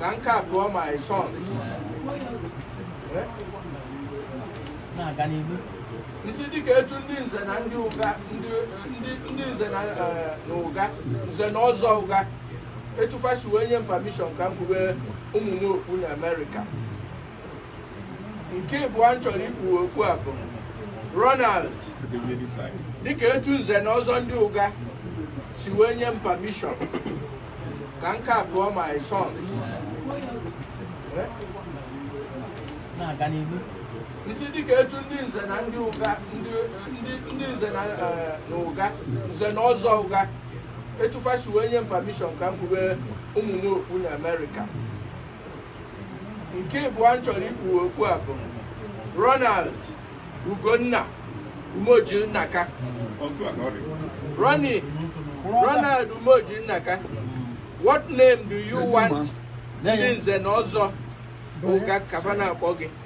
ka m kpuo my sons Eh? isi dịka etu ndị nze na ndị ụga ndị ndị- ndị nze na eh, na ụga nze na ọzọ ụga etu fa si wee nye m permission ka m kpube ụmụ m okpu na amerịka nke ịbụọ m chọrọ ikpuwe okpu a bụ Ronald dịka etu nze na ọzọ ndị ụga si wee nye m permission ka m kpuo my sons isi dịka etu ndị nze na ndị ụga ndị ndị- ndị nze na eh, na ụga nze na ọzọ ụga etu fa si wee nye m permission ka m kpube ụmụ m okpu na Amerịka nke ịbụọ m chọrọ ikpuwe okpu a bụ Ronald Ugonna Umeoji Nnaka Ronnie Ronald Umeoji Nnaka what name do you want ndị nze na ọzọ ụga ka fa na-akpọ gị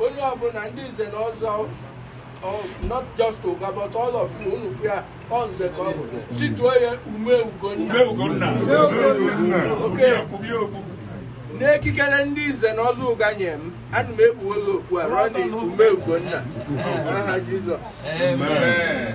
onye ọbụla ndị nze na ọzọ ọ- not just ụga but all of you unu fụ ya ọ nze ka ọ bụ si tuo ya ume ugonna okay n'ikikere ndị nze na ọzọ ụga nye m ana m ekpuola okpu a Ronnie ume ugonna n'aha jizọs Amen.